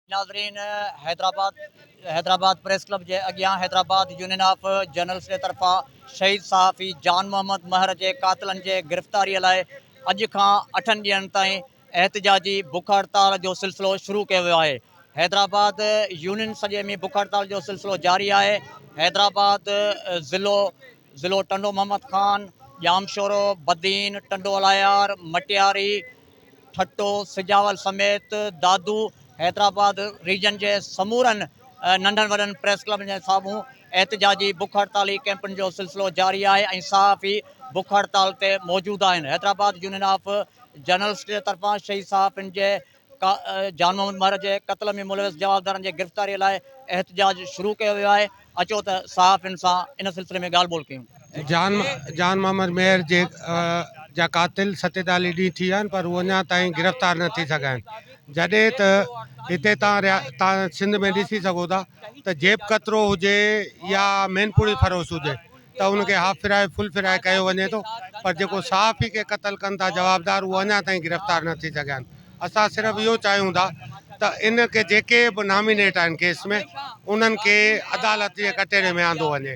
ناظرين Hyderabad Hyderabad press club جي اڳيان حيدرآباد يونين آف جرنلسٽ جي طرفان شهيد صحافي جان محمد مهر جي قاتلن جي گرفتاري لاء اڄ کان اٺن ڏينهن تائين احتجاجي بک هڙتال جو سلسلو شروع ڪيو ويو آهي حيدرآباد يونين سڄي ۾ بک هڙتال جو سلسلو جاري آهي حيدرآباد ضلعو ضلعو ٽنڊو محمد خان ڄامشورو بدين ٽنڊو الايار مٽياري ٺٽو سجاول سميت دادو حيدرآباد ريجن جي سمورن ننڍن وڏن پريس ڪلبن جي سامهون احتجاجي بک هڙتالي ڪئمپن جو سلسلو جاري آهي ۽ صحافي بک هڙتال تي موجود آهن حيدرآباد يونين آف جرنلسٽ طرفان شهيد صحافين جي جان محمد مهر جي قتل ۾ ملوث جوابدارن جي گرفتاري لاء احتجاج شروع ڪيو ويو آهي اچو ته صحافين سان ان سلسلي ۾ ڳالهه ٻولهه ڪيون جان جان محمد مير جي جا قاتل ستيتاليھ ڏينهن ٿي ويا آهن پر هو اڃا تائين گرفتار نه ٿي سگهيا آهن جڏهن ته هتي تان تان سنڌ ۾ ڏسي سگهو ٿا ته جيب ڪترو هجي يا مين پوڙي فروش هجي ته ان کي هاف فرائي فل فرائي ڪيو وڃي ٿو پر جيڪو صحافي کي قتل ڪن ٿا جوابدار اهو اڃا تائين گرفتار نه ٿي سگهيا آهن اسان صرف اهو چاهيون ٿا ته ان کي جيڪي به نامينيٽ آهن ڪيس ۾ انهن کي عدالت جي ڪٽهڙي ۾ آندو وڃي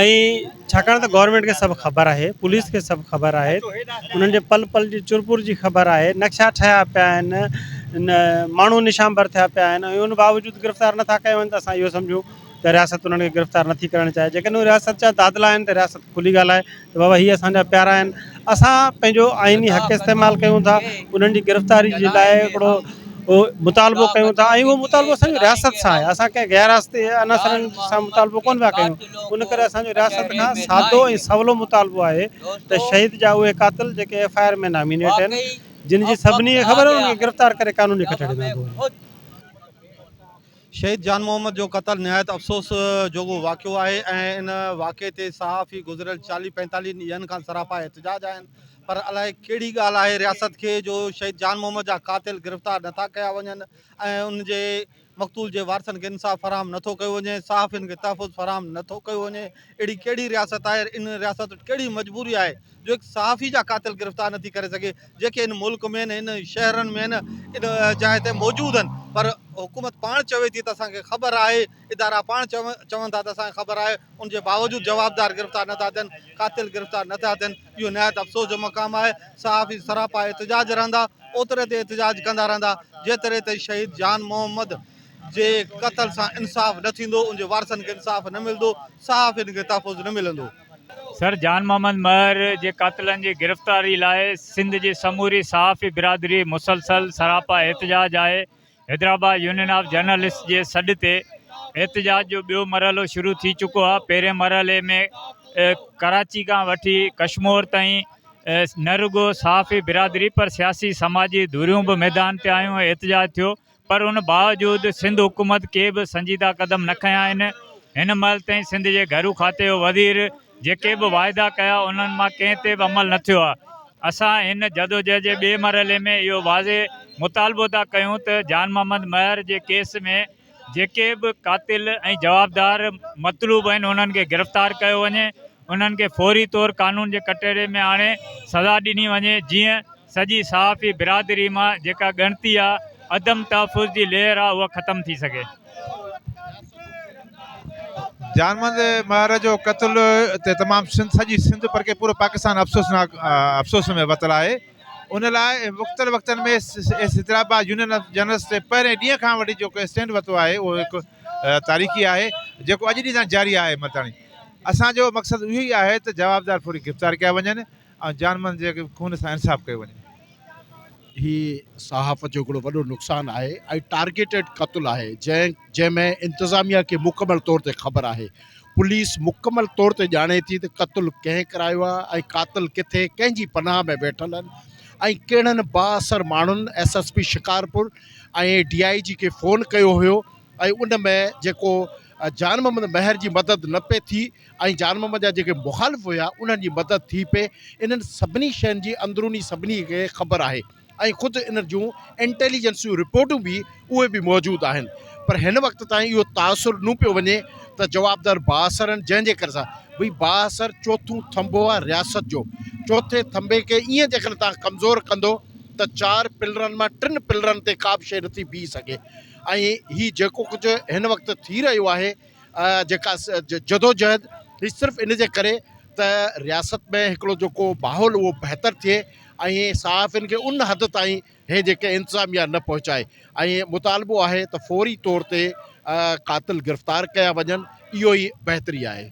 ۽ ڇاڪاڻ ته گورنمينٽ کي سڀ خبر آهي پوليس کي سڀ خبر آهي انهن جي پل پل جي چر پور جي خبر آهي نقشا ٺهيا پيا آهن ان ماڻهو نشان بر ٿيا پيا آهن ۽ ان باوجود گرفتار نٿا ڪيا وڃن ته اسان اهو سمجهون ته رياست انهن کي گرفتار نٿي ڪرڻ چاهي جيڪڏهن رياست جا دادلا آهن ته رياست کلي ڳالهائي ته بابا هي اسان جا پيارا آهن، اسان پنهنجو آئيني حق استعمال ڪيون ٿا، انهن جي گرفتاري جي لاء هڪڙو مطالبو ڪيون ٿا ۽ اهو مطالبو اسان جو رياست سان آهي، اسان ڪنهن غير رياستي عناصرن سان مطالبو ڪونه پيا ڪيون، ان ڪري اسان جو رياست کان سادو ۽ سولو مطالبو آهي ته شهيد جا اهي قاتل جيڪي ايف آء آر ۾ نامينيٽ آهن، جن جي سڀني کي خبر آهي انهن کي گرفتار ڪري قانوني ڪٽهڙي ۾ آندو وڃي. شهيد جان محمد جو قتل نهايت افسوس جوڳو واقعو آهي ۽ ان واقعي تي صحافي گذريل چاليهه پنجتاليهه ڏينهن کان سراپا احتجاج آهن پر الائي ڪهڙي ڳالهه آهي رياست کي جو شهيد جان محمد جا قاتل گرفتار نٿا ڪيا وڃن ۽ ان جي مقتول جي وارثن کي انصاف فراهم نٿو ڪيو وڃي صحافين کي تحفظ فراهم نٿو ڪيو وڃي اهڙي ڪهڙي رياست آهي ان رياست وٽ ڪهڙي مجبوري آهي جو هڪ صحافي جا قاتل گرفتار نٿي ڪري سگهي جيڪي هن ملڪ ۾ آهن هن شهرن ۾ آهن ان جاء تي موجود آهن پر حڪومت پاڻ چوي ٿي ته اسانکي خبر آهي ادارا پاڻ چون ٿا ته اسانکي خبر آهي ان جي باوجود جوابدار گرفتار نٿا ٿين قاتل گرفتار نٿا ٿين اهو نهايت افسوس جو مقام آهي صحافي سراپا احتجاج رهندا اوتري تي احتجاج ڪندا رهندا جيتري تي شهيد جان محمد جي قتل سان انصاف نه ٿيندو ان جي وارثن کي انصاف نه ملندو صحافين کي تحفظ نه ملندو سر جان محمد مهر جي قاتلن جي گرفتاري لاء سنڌ جي سموري صحافي برادري مسلسل سراپا احتجاج آهي حيدرآباد يونين آف جرنلسٽس جي سڏ تي احتجاج جو ٻيو مرحلو شروع ٿي چڪو آهي پهرين مرحلي ۾ ڪراچي کان وٺي ڪشمور تائين نه رڳو صحافي برادري پر سياسي سماجي ڌريون به ميدان تي آيون احتجاج ٿيو پر ان باوجود سنڌ حڪومت ڪي به سنجيده قدم نه کنيا آهن، هن مهل تائين سنڌ جي گهرو کاتي جو وزير جيڪي به واعدا ڪيا انهن مان ڪنهن تي به عمل نه ٿيو آهي، اسان هن جدوجهد جي ٻئي مرحلي ۾ اهو واضح مطالبو ٿا ڪيون ته جان محمد مهر جي ڪيس ۾ جيڪي به قاتل ۽ جوابدار مطلوب آهن انهن کي گرفتار ڪيو وڃي ۽ انهن کي فوري طور قانون جي ڪٽهڙي ۾ آڻي سزا ڏني وڃي جيئن سڄي صحافي برادري مان جيڪا ڳڻتي آ عدم تحفظ جي لهر آ اها ختم ٿي سگهي. جانمند مهر جو قتل تي تمام سنڌ سڄي سنڌ بلڪه پورو پاڪستان افسوسناڪ افسوس ۾ وتل آهي ان لاء مختلف وقتن ۾ S S Hyderabad union of journalist تي پهرين ڏينهن کان وٺي جيڪو اسٽينڊ ورتو آهي اهو هڪ تاريخي آهي جيڪو اڄ ڏينهن تائين جاري آهي متاڻي اسان جو مقصد اهو ئي آهي ته جوابدار فوري گرفتار ڪيا وڃن ۽ جان مال جي خون سان انصاف ڪيو وڃي. هي صحافت جو هڪڙو وڏو نقصان آهي ۽ ٽارگيٽيڊ قتل آهي جنهن جنهن ۾ انتظاميا کي مڪمل طور تي خبر آهي پوليس مڪمل طور تي ڄاڻي ٿي ته قتل ڪنهن ڪرايو آهي ۽ قاتل ڪٿي ڪنهن جي پناهه ۾ ويٺل آهن ۽ ڪهڙن بااثر ماڻهن S S P Shikarpur ۽ D I G کي فون ڪيو هيو ۽ ان ۾ جيڪو جان محمد مهر جي مدد نه پئي ٿي ۽ جان محمد جا جيڪي مخالف هيا انهن جي مدد ٿي پئي. انهن سڀني شين جي اندروني سڀني کي خبر آهي ۽ خود انهن جون انٽيليجنس جون رپورٽون به اهي به موجود آهن پر هن وقت تائين اهو تاثر نو پيو وڃي ته جوابدار بااثر آهن جنهن جي ڪري سان ڀئي بااثر چوٿون ٿنڀو آهي رياست جو چوٿين ٿنڀي کي ايئن جيڪڏهن توهان ڪمزور ڪندو ته چار پلرن مان ٽن پلرن تي ڪا به شيء نٿي بيهي سگهي. ۽ هي جيڪو ڪجهه هن وقت ٿي رهيو آهي جيڪا جدوجهد هي صرف ان جي ڪري ته رياست ۾ هڪڙو جيڪو ماحول اهو بهتر ٿئي ۽ صحافين کي ان حد تائين هي جيڪي انتظاميا نه پهچائي ۽ مطالبو آهي ته فوري طور تي قاتل گرفتار ڪيا وڃن اهو ئي بهتري آهي.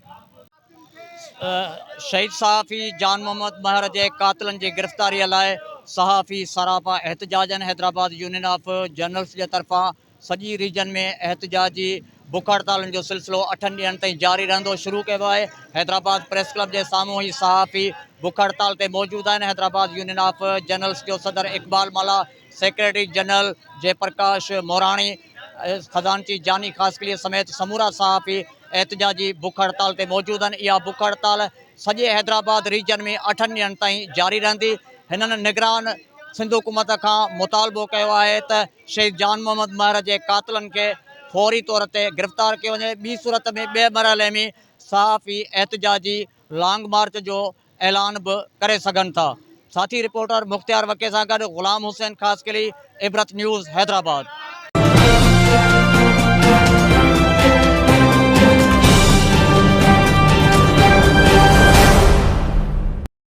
شهيد صحافي جان محمد مهر جي قاتلن جي گرفتاري لاء صحافي سراپا احتجاجن حيدرآباد يونين آف جرنلس جي طرفان سڄي ريجن ۾ احتجاجي بک هڙتالن جو سلسلو اٺن ڏينهن تائين جاري رهندو شروع ڪيو آهي حيدرآباد پريس ڪلب جي سامهون هي صحافي بک هڙتال تي موجود آهن حيدرآباد يونين آف جرنلس جو صدر اقبال ملا سيڪريٽري جنرل جئي پرڪاش مهراڻي، خزانچي جاني خاصخيلي سميت سمورا صحافي احتجاجي بک هڙتال تي موجود آهن، اها بک هڙتال سڄي حيدرآباد ريجن ۾ اٺن ڏينهن تائين جاري رهندي، هنن نگران سنڌ حڪومت کان مطالبو ڪيو آهي ته شهيد جان محمد مهر جي قاتلن کي فوري طور تي گرفتار ڪيو وڃي، ٻي صورت ۾ ٻئي مرحلي ۾ صحافي احتجاجي لانگ مارچ جو اعلان به ڪري سگهن ٿا. ساٿي رپورٽر مختيار وڪي سان گڏ غلام حسين خاصخيلي، عبرت نيوز، حيدرآباد.